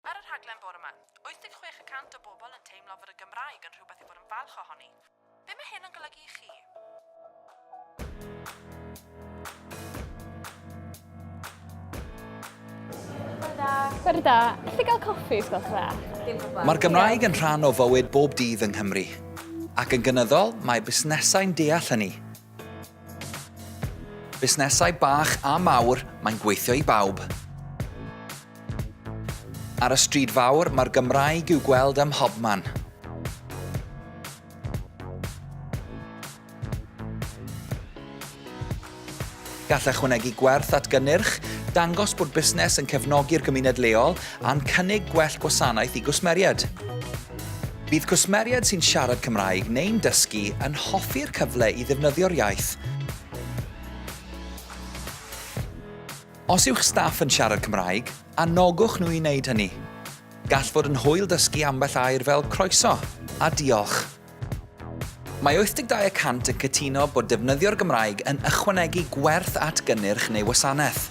Ar y rhaglen bore 'ma, 86 y cant o bobl yn teimlo fod y Gymraeg yn rhywbeth i fod yn falch ohoni. Be mae hyn yn golygu i chi? Bore da. Bore da. gael coffi, os gwelwch dda? Dim problem. Mae'r Gymraeg yn rhan o fywyd bob dydd yng Nghymru. Ac yn gynyddol, mae busnesau'n deall hynny. Busnesau bach a mawr, mae'n gweithio i bawb. Ar y stryd fawr, mae'r Gymraeg i'w gweld ym mhobman. Gall ychwanegu gwerth at gynnyrch, dangos bod busnes yn cefnogi'r gymuned leol, a'n cynnig gwell gwasanaeth i gwsmeriaid. Bydd cwsmeriaid sy'n siarad Cymraeg neu'n dysgu yn hoffi'r cyfle i ddefnyddio'r iaith. Os yw'ch staff yn siarad Cymraeg, anogwch nhw i wneud hynny. Gall fod yn hwyl dysgu ambell air fel 'croeso' a 'diolch'. Mae 82 y cant yn cytuno bod defnyddio'r Gymraeg yn ychwanegu gwerth at gynnyrch neu wasanaeth.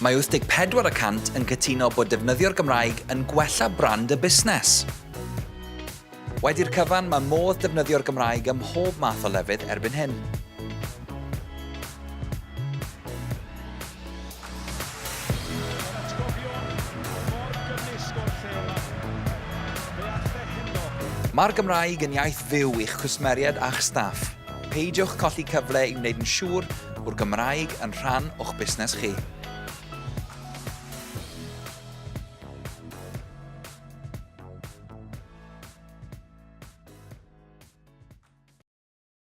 Mae 84 y cant yn cytuno bod defnyddio'r Gymraeg yn gwella brand y busnes. Wedi'r cyfan, mae modd defnyddio'r Gymraeg ym mhob math o lefydd erbyn hyn. Mae'r Gymraeg yn iaith fyw i'ch cwsmeriaid a'ch staff. Peidiwch colli cyfle i wneud yn siŵr bod Gymraeg yn rhan o'ch busnes chi.